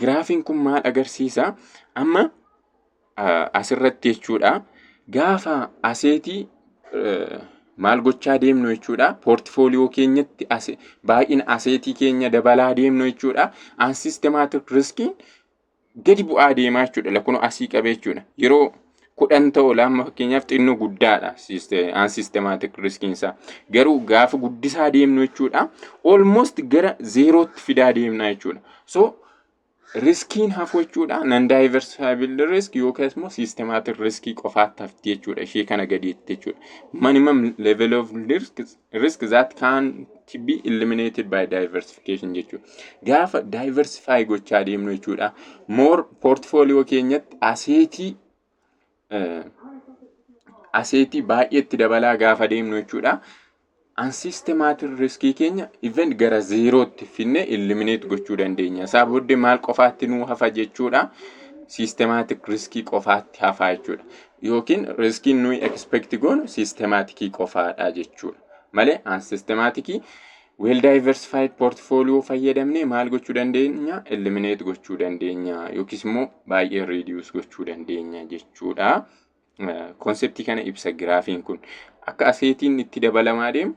Giraafiin kun maal agarsiisa? Amma asirratti jechuudha gaafa aseetii maal gochaa deemnu jechuudha poortifooliyoo keenyatti baay'ina aseetii keenya dabalaa deemnu jechuudha aan sistemaatik riskiin gadi bu'aa deemaa jechuudha lakkuma asii qabee jechuudha yeroo kudhan ta'u laamma fakkeenyaaf xinnoo guddaadha aan sistemaatik riskiinsaa garuu gaafa guddisaa deemnu jechuudha almost gara zeerootti fidaa deemna jechuudha so riskiin hafu jechuudha nan daayiversifaayibil risk yookaas immoo sistemaatik riskii qofaatti hafti jechuudha ishee kana gadiitti jechuudha minimum level of risk risk that can be eliminated by diversification jechuudha. Gaafa diversify gochaa deemnu jechuudha. More portfolio keenyatti aseetii aseetii baay'eetti dabalaa gaafa deemnu jechuudha. Ansiistemaatiin riskii keenya even gara zeerootti finne eliminate gochuu dandeenya. Isaa booddee maal qofaatti nuu hafa jechuudha. Siistemaatik riskii qofaatti hafaa jechuudha. Yookiin riskiin nuyi expect goonu siistemaatikii qofaadha jechuudha. Malee aan siistemaatikii well diversified portfolio fayyadamnee maal gochuu dandeenya? Eliminate gochuu dandeenya yookiis immoo baay'ee reduce gochuu dandeenya jechuudha. Konseptii kana ibsa giraafiin kun. Akka aseetiin itti dabalamaa deemu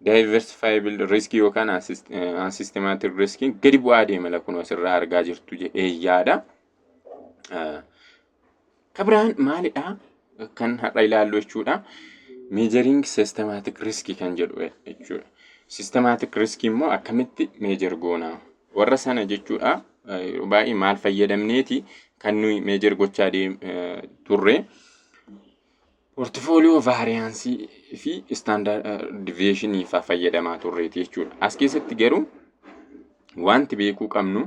diversifiable risk yookaan unsystematic risk gadi bu'aa deema lakkuma asirraa argaa jirtu jedhee yaada. Kabiraan maalidha kan har'a ilaallu jechuudha. Measuring systematic risk kan jedhu jechuudha. Systematic risk immoo akkamitti measure goona? Warra sana jechuudha yeroo baay'ee maal fayyadamneeti kan nuyi measure gochaa turre. Poortifooliyoo vaariyaansii fi istaandaard diviyeeshinii faa fayyadamaa turreeti jechuudha. As keessatti garuu wanti beekuu qabnu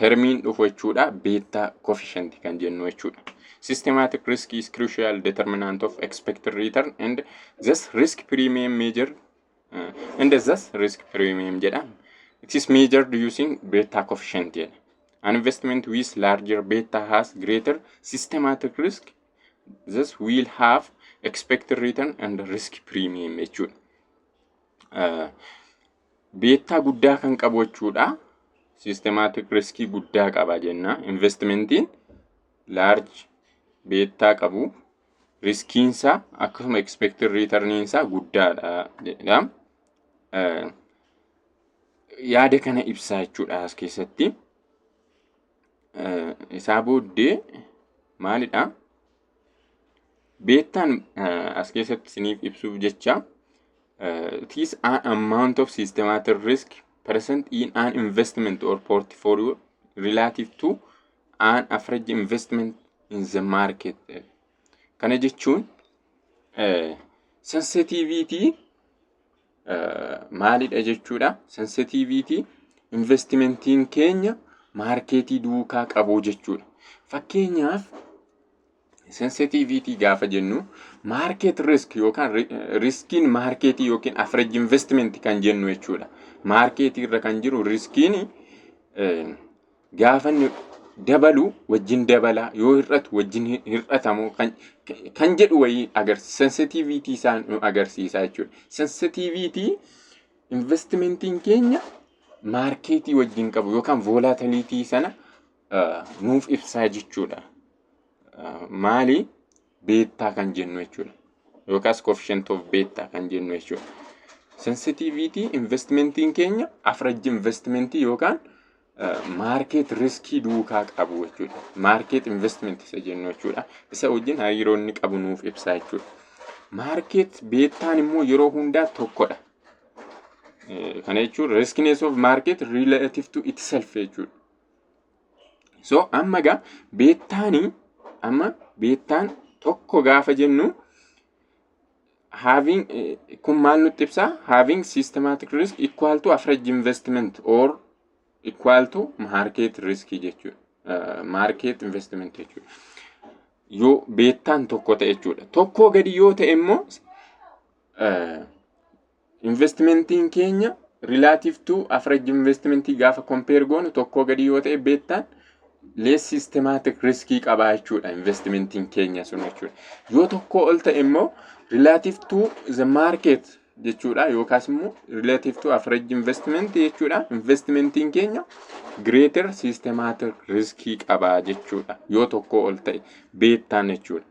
termiin dhufu jechuudha beettaa koofishanti kan jennu jechuudha. Systematic risk is crucial determinant of expected return and thus risk premium measure uh, and thus risk premium jedha. It is measured using beta coefficient jedha. An investment with larger beta has greater systematic risk this will have expected return and risk premium jechuudha. Uh, beettaa guddaa kan qabu jechuudha. Systematic riskii guddaa qaba jenna. Investmentiin large beettaa qabu riskiinsaa akkasuma expected returniinsaa guddaadha jedha. Uh, yaada kana ibsaa jechuudha as keessatti. isaa booddee maalidha? Beettaan as keessatti isiniif ibsuuf jecha it is an amount of systematic risk present in an investment or portfolio relative to an average investment in the market. Kana jechuun sensitiviitii maalidha jechuudha. Sensitiviitii investimentiin keenya maarkeetii duukaa qabuu jechuudha. Fakkeenyaaf sensitiviitii gaafa jennu maarkeet risk yookaan riskiin maarkeetii yookiin afreej investimenti kan jennu jechuudha. Maarkeetii irra kan jiru riskiin gaafa inni dabalu wajjin dabala yoo hir'atu wajjin hin- hir'atamu kan kan jedhu wayii agarsiisa sensitiviitii isaa nu agarsiisa jechuudha sensitiviitii investimentiin keenya maarkeetii wajjin qabu yookaan voolaatiliitii sana ah, nuuf ibsaa jechuudha Ah, maali beettaa kan jennu jechuudha. Yookaas coefficient of beettaa kan jennu jechuudha. Sensitiviitii investmentiin keenya afrajji investmentii yookaan maarkeet riskii duukaa qabu jechuudha. Maarkeet investment isa jennu jechuudha. Isa wajjin hariiroo inni qabu nuuf ibsaa jechuudha. Maarkeet beettaan immoo yeroo hundaa tokkodha. Kana jechuun riskinees of maarkeet relative to itself jechuudha. So amma egaa beettaani amma beettaan tokko gaafa jennu having eh, kun maal nutti ibsaa having systematic risk equal to average investment or equal to market risk jechuudha. Eh, market investment jechuudha. Yoo beettaan tokko ta'e jechuudha. Tokkoo gadi yoo ta'e immoo eh, Investmentiin keenya relative to average investment gaafa compare goonu tokkoo gadi yoo ta'e beettaan less systematic risk qabaa jechuudha investmentiin keenya sun jechuudha. Yoo tokkoo ol ta'e immoo relative to the market jechuudha yookaas immoo relative to average investment jechuudha investmentiin keenya greater systematic risk qabaa jechuudha yoo tokkoo ol ta'e beettaan jechuudha.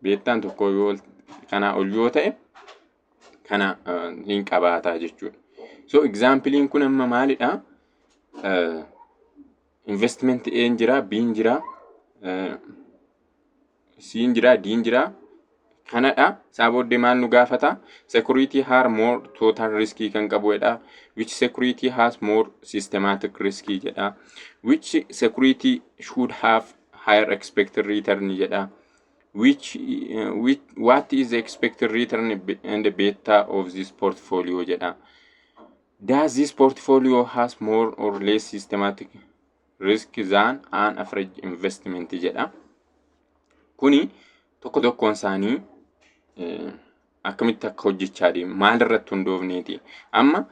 Beettaan tokkoo yoo ol- kanaa ol yoo ta'e kana hin qabaataa jechuudha. So examplein kun amma maalidha? Investment A hin jira, B hin jira, C hin jira, D hin jira. Kanadha. Isaa booddee maal nu gaafata? Security har more total risk kan qabuudha. Which security has more systematic risk jedha. Which security should have higher expected return jedha. which which what is the expected return and the beta of this portfolio jedha does this portfolio has more or less systematic risk than an average investment jedha kuni tokko tokkoon isaanii eh, akkamitti akka hojjechaa deemu maal irratti hundoofneeti amma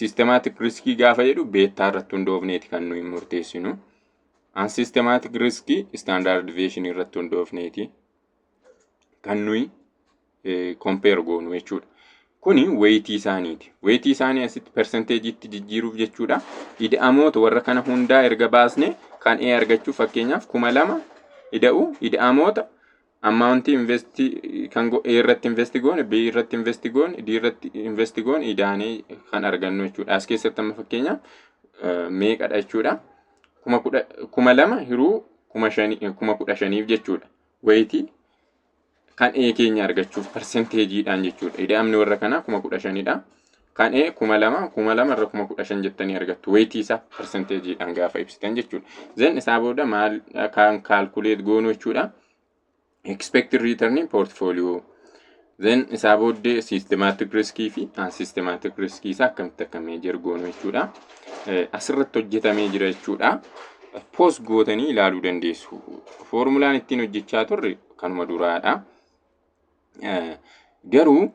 systematic riskii gaafa jedhu beettaa irratti hundoofneeti kan nuyi murteessinu an systematic risk standard deviation irratti hundoofneeti kan nuyi compare goonu jechuudha. Kuni weeyitii isaaniiti. Weeyitii isaanii asitti persenteejiitti jijjiiruuf jechuudha. Ida'amoota warra kana hundaa erga baasne kan A argachuuf fakkeenyaaf kuma lama ida'u ida'amoota ammaawuntii investi kan go- A irratti investi goone B irratti investi goone D irratti investi goone idaanee kan argannu jechuudha as keessatti amma fakkeenya eh, meeqadha jechuudha kuma kudha kuma lama hiruu kuma shanii eh, kuma kudha shaniif jechuudha wayitii kan A keenya argachuuf parsenteejiidhaan jechuudha ida'amni warra kanaa kuma kudha shanidha Kan A kuma lama, kuma lama irra kuma kudha shan jettanii argattu. Weetii isaa persenteejiidhaan gaafa ibsitan jechuudha. Zen isaa booda maal kan kaalkuleet goonu jechuudha. Expected return portfolio. Zen isaa booddee systematic risk fi unsystematic risk isaa akkamitti akka meejer goonu jechuudha. Asirratti hojjetamee jira jechuudha. Poos gootanii ilaaluu dandeessu. Foormulaan ittiin hojjechaa turre kanuma duraadha. Garuu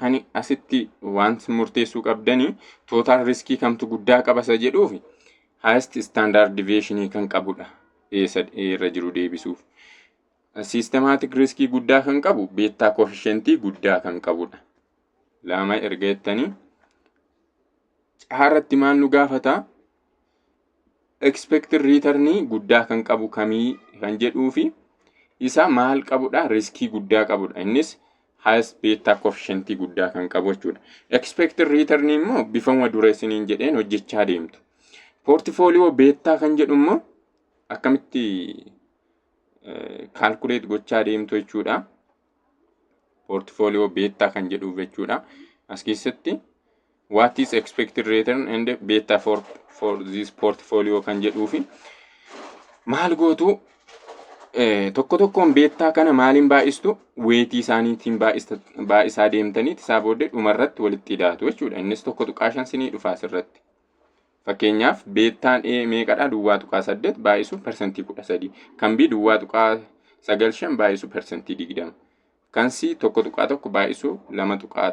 Kan asitti wanti murteessuu qabdanii tootaal riskii kamtu guddaa qabasa jedhuuf highest standard deviation kan qabudha. Eessa irra jiru deebisuuf. Systematic riskii guddaa kan qabu beettaa koefficientii guddaa kan qabudha. Lama erga jettanii caarratti maal nu gaafata? expected return guddaa kan qabu kamii kan jedhuu fi isa maal qabudha riskii guddaa qabudha innis highest beta coefficient guddaa kan qabu jechuudha. Expected return immoo bifuma dureessiniin jedheen hojjechaa deemtu. Portfolio beta kan jedhu immoo akkamitti calculate gochaa deemtu jechuudha. portfolio beta kan jedhuuf jechuudha. As keessatti what is expected return and beta for, for this portfolio kan jedhuufi maal gootu eh, tokko tokkoon beettaa kana maaliin baay'istu weetii isaaniitiin baay'ista- baay'isaa deemtaniiti isaa booddee dhumarratti walitti hidhaatu jechuudha. Innis tokko tuqaa shan sinii dhufa asirratti. Fakkeenyaaf beettaan A meeqadha? Duwwaa tuqaa saddeet baay'isuu persentii kudha sadii. Kan B duwwaa tuqaa sagal shan baay'isuu persentii digdama. Kan C tokko tuqaa tokko baay'isuu lama tuqaa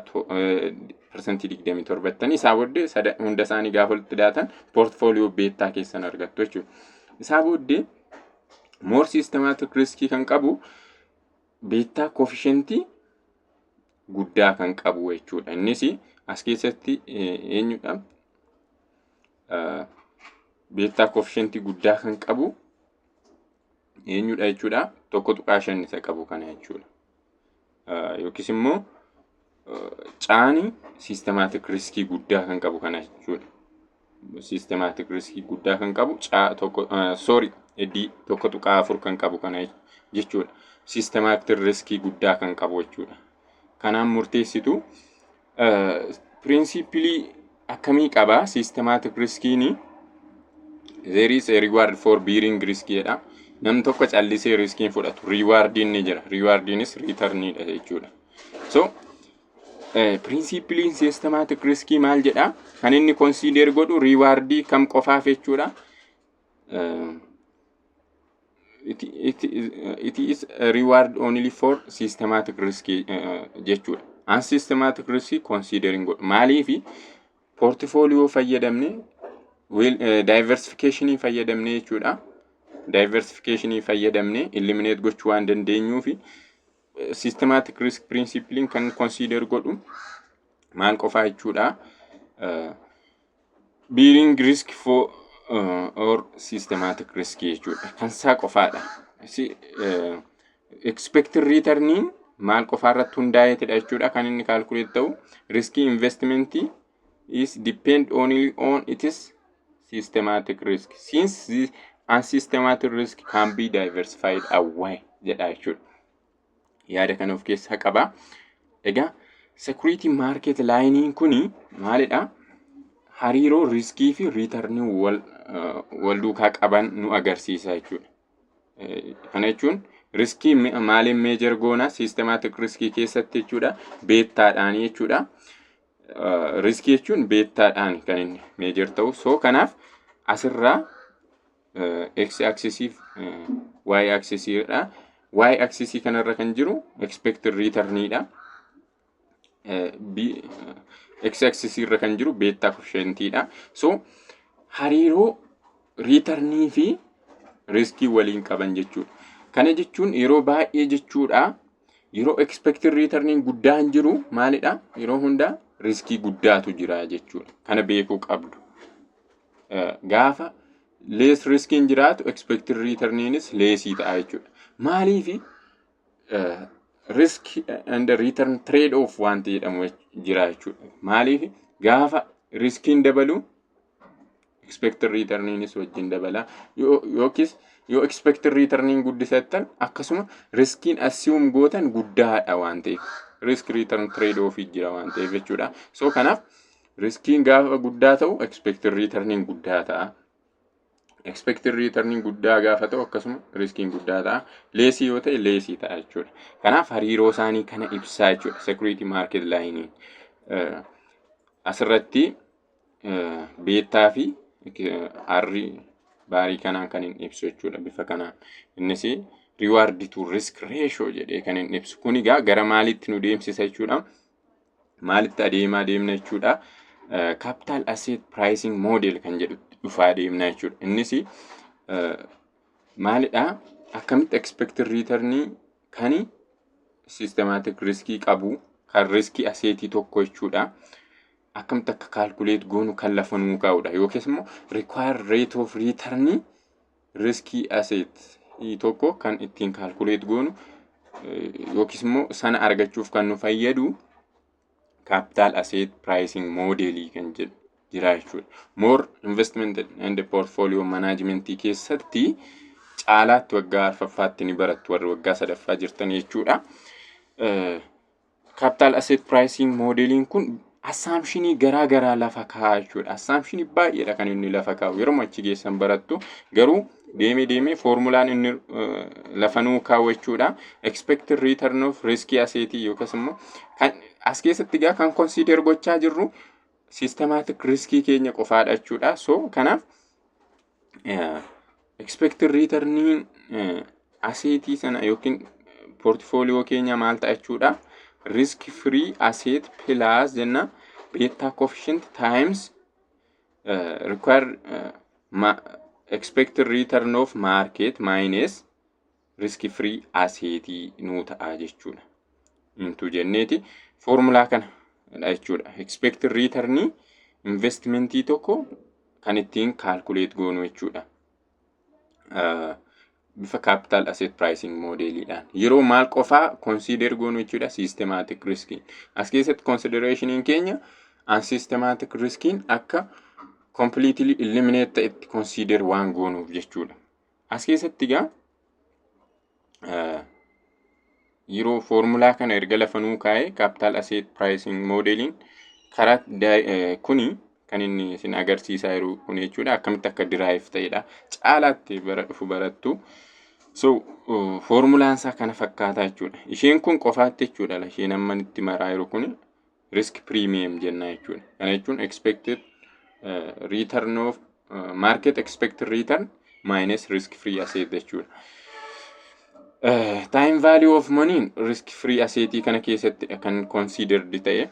persentii digdamii torba jettanii isaa booddee hunda isaanii gaafa walitti daatan poortfooliyoo beettaa keessan argattu jechuudha. Isaa booddee moor siistemaatik riskii kan qabu beettaa koofishentii guddaa kan qabu jechuudha. Innis as keessatti eenyudha? Beektaa koofishentii guddaa kan qabu eenyudha jechuudha? Tokko tuqaa shan isa qabu kana jechuudha. Yookiis immoo caani siistemaatik riskii guddaa kan qabu kana jechuudha. systematic risk guddaa kan qabu caa tokko sorry eddii tokko tuqaa afur kan qabu kana jechuudha. Systematic risk guddaa kan qabu jechuudha. Kanaan murteessitu piriinsiipilii akkamii qaba systematic riskiin there is a reward for bearing risk jedha. Nam tokko callisee riskiin fudhatu riiwaardiin ni jira. Riiwaardiinis riitarniidha jechuudha. So Piriinsiippiliin siistemaatik riskii maal jedhaa? Kan inni konsiideer godhu riiwaardii kam qofaaf jechuudha. It is reward only for systematic risk jechuudha. An systematic risk considering godhu. Maaliif poortifooliyoo fayyadamne daayiversifikeeshinii fayyadamne jechuudha. Daayiversifikeeshinii fayyadamne ilimineet gochuu waan dandeenyuufi. systematic risk principle kan consider godhu maal qofaa jechuudha. Uh, bearing risk for uh, or systematic risk jechuudha. Kan isaa qofaadha. Si, uh, expected returniin maal qofaa irratti hundaa'eetidha jechuudha kan inni kaalkuleet ta'u riskii investimentii is depend only on its systematic risk. Since the unsystematic risk can be diversified away jedha jechuudha. Yaada kana of keessaa qaba. Egaa security market laayiniin kuni maalidha? Hariiroo riskii fi riitarnii wal, eh, wal duukaa qaban nu agarsiisa jechuudha. Eh, Kana jechuun riskii mi- maaliin meejar goona? Systematic riskii keessatti jechuudha. Beettaadhaan jechuudha. riskii jechuun beettaadhaan kan inni meejar ta'u soo kanaaf asirraa x aksisiif y aksisiidha y aksisii kanarra kan jiru expected returnidha x aksisii irra kan jiru beettaa koshentiidha soo hariiroo riitarnii fi riskii waliin qaban jechuudha. Kana jechuun yeroo baay'ee jechuudha Yeroo expected returniin guddaan jiru maalidha? Yeroo hundaa riskii guddaatu jira jechuudha. Kana beekuu qabdu. Eh, Gaafa lees riskiin jiraatu expected returniinis leesii ta'a jechuudha. Maaliifi eh, risk and return trade off wanti jedhamu jira jechuudha. Maaliifi gaafa riskiin dabalu expected return'nis wajjin dabala yookiis yoo expected return'n guddisattan akkasuma riskiin assume gootan guddaadha waan ta'eef risk return trade off jira waan ta'eef jechuudha so kanaaf riskiin gaafa guddaa ta'u expected return'n guddaa ta'a expected return'n guddaa gaafa ta'u akkasuma riskiin guddaa ta'a leesii yoo ta'e leesii ta'a jechuudha kanaaf hariiroo isaanii kana ibsaa jechuudha security market laayiniin asirratti beettaa fi arri baarii kanaa kan hin ibsu jechuudha bifa kanaan. Innis reward to risk ratio jedhee kan hin ibsu. Kun egaa gara maalitti nu deemsisa jechuudha. Maalitti adeemaa deemna jechuudha. Capital asset pricing model kan jedhutti dhufaa deemna jechuudha. Innis maalidha? Akkamitti expected return kan systematic riskii qabu kan riskii aseetii tokko jechuudha. akkamitti akka calculate goonu kan lafa nuu kaa'udha yookiis immoo require rate of return riskii asset tokko kan ittiin calculate goonu yookiis immoo sana argachuuf kan nu fayyadu capital asset pricing model kan jedhu jira jechuudha. More investment and portfolio management keessatti caalaatti waggaa arfaffaatti ni barattu warri waggaa sadaffaa jirtan jechuudha. Capital Asset Pricing moodeeliin kun assaamshinii garaa garaa lafa kaa'a jechuudha. Assaamshinii baay'eedha kan inni lafa kaa'u. Yeroo achi geessan barattu garuu deemee deemee foormulaan inni eh, lafa nuu kaa'u jechuudha. Expected return of risk asset yookiis immoo kan as keessatti egaa kan consider gochaa jirru systematic riskii keenya qofaadha jechuudha. So kanaaf Expected return aseetii sana yookiin portfoliyoo keenya maal ta'a jechuudha. Risk free asset plus jenna beta coefficient times uh, required uh, ma expected return of market minus riski firii aseetii nuu ta'a jechuudha. Intuu jenneeti foormulaa kana dha jechuudha. Expected return investmentii tokko kan ittiin kaalkuleet goonu jechuudha. Bifa capital asset pricing moodeeliidhaan yeroo maal qofaa consider goonu jechuudha systematic riskiin. As keessatti considerationiin keenya unsystematic riskiin akka completely eliminate ta'etti consider waan goonuuf jechuudha. As keessatti egaa yeroo foormulaa kana erga lafa nuu kaa'ee kaapitaal aseet piraayisiing moodeeliin karaa kuni kan inni isin agarsiisaa jiru kun jechuudha akkamitti akka diraayiif ta'edha caalaatti bara dhufu barattu. So foormulaan isaa kana fakkaataa jechuudha. Isheen kun qofaatti jechuudha isheen amma itti maraa jiru kun risk premium jenna jechuudha. Kana jechuun expected uh, return of uh, market expected return minus risk free asset jechuudha. Uh, time value of money risk free asset kana keessatti kan considered ta'e.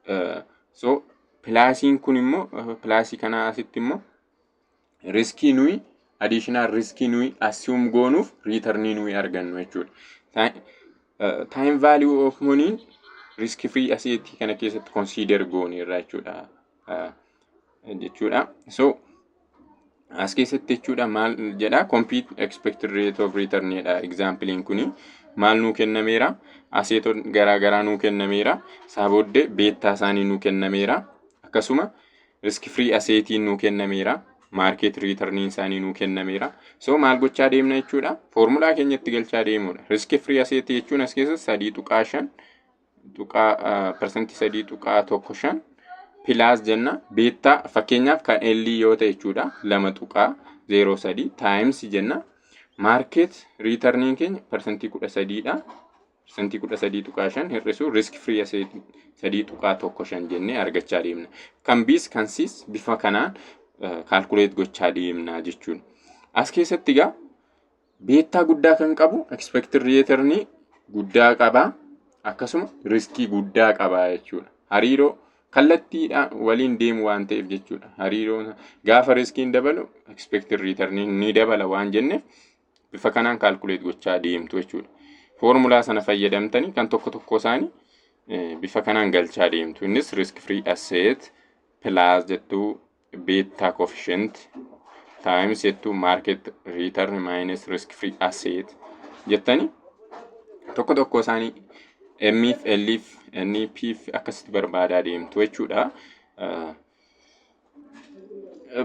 Uh, so pilaasiin kun immoo uh, pilaasii kana asitti immoo riskii nuyi additional riskii nuyi assume goonuuf return nuyi argannu jechuudha. Time- eh, Time value of money risk free asset kana keessatti consider goone irraa jechuudha. Eh, jechuudha. So as keessatti jechuudha maal jedha compute expected rate of return jedha examplein kuni maal nuu kennameera aseeton garaa garaa nuu kennameera isaa booddee beettaa isaanii nuu kennameera akkasuma risk free aseetiin nuu kennameera maarkeet riitarniin isaanii nuu kennameera so maal gochaa deemna jechuudha foormulaa keenyatti galchaa deemuudha risk free aseetii jechuun as keessa sadii tuqaa shan tuqaa parsantii sadii tuqaa tokko shan pilaas jenna beettaa fakkeenyaaf kan ellii yoo ta'e jechuudha lama tuqaa zeeroo sadii taayimsi jenna maarkeet riitarniin keenya parsantii kudha sadiidha parsantii 13.5 hir'isuu risk free asset 3.15 jennee argachaa deemna. Kan Bs kan Cs bifa kanaan kaalkuleet gochaa deemna jechuudha. As keessatti egaa beettaa guddaa kan qabu expected return guddaa qaba akkasuma riskii guddaa qaba jechuudha. Hariiroo kallattiidhaan waliin deemu waan ta'eef jechuudha. Hariiroo gaafa riskiin dabalu expected return ni dabala waan jenneef bifa kanaan kaalkuleet gochaa deemtu jechuudha. Foormulaa sana fayyadamtanii kan tokko tokko isaanii eh, bifa kanaan galchaa deemtu. Innis risk free asset pilaas jettuu beettaa coefficient times jettuu market return minus risk free asset jettanii tokko tokko isaanii M fi L fi N fi P fi akkasitti barbaadaa deemtu jechuudha. Eh,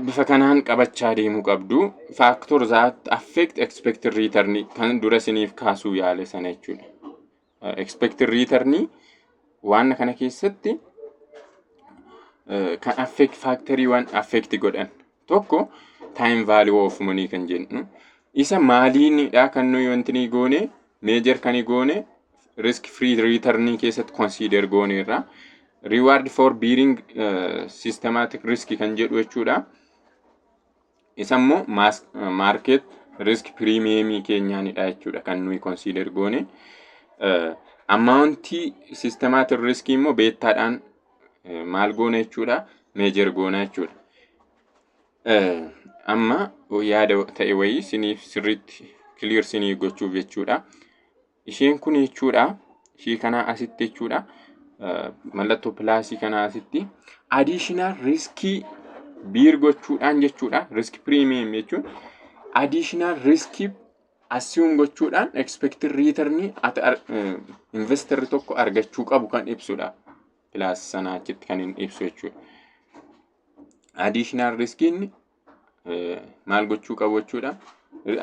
bifa kanaan qabachaa deemuu qabdu factor that affect expected return kan dura siniif kaasuu yaale sana jechuudha. Uh, expected return waan kana keessatti uh, kan affect factory waan affect godhan Tokko time value of money kan jennu isa maaliinidha kan nuyi wanti ni goone meejar kan goone risk free return keessatti consider goone irra reward for bearing uh, systematic risk kan jedhu jechuudha. Isa immoo market risk premium keenyaanidha jechuudha kan nuyi consider goone. Uh, ammaawuntii systematic risk immoo beettaadhaan maal goona jechuudha meejer goona jechuudha. Amma yaada ta'e wayii siniif sirriitti kiliir sinii gochuuf jechuudha. Isheen kun jechuudha ishee kanaa asitti jechuudha mallattoo pilaasii kanaa asitti adiishinaal riiskii biir gochuudhaan jechuudha riiskii piriimiyeem jechuun adiishinaal riiskii assume gochuudhaan expected return ati ar- eh, investor tokko argachuu qabu kan ibsudha. Kilaas sana achitti kan hin ibsu jechuudha. Additional risk inni eh, maal gochuu qabu jechuudha.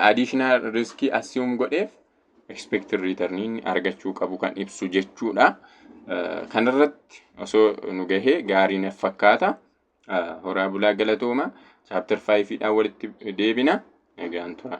Additional risk assume godheef expected return inni argachuu qabu kan ibsu jechuudha. Eh, Kanarratti osoo nu gahee gaarii naf fakkaata. Eh, Horaa bulaa galatooma. Chapter 5 dhaan walitti deebina. Nagaan tura.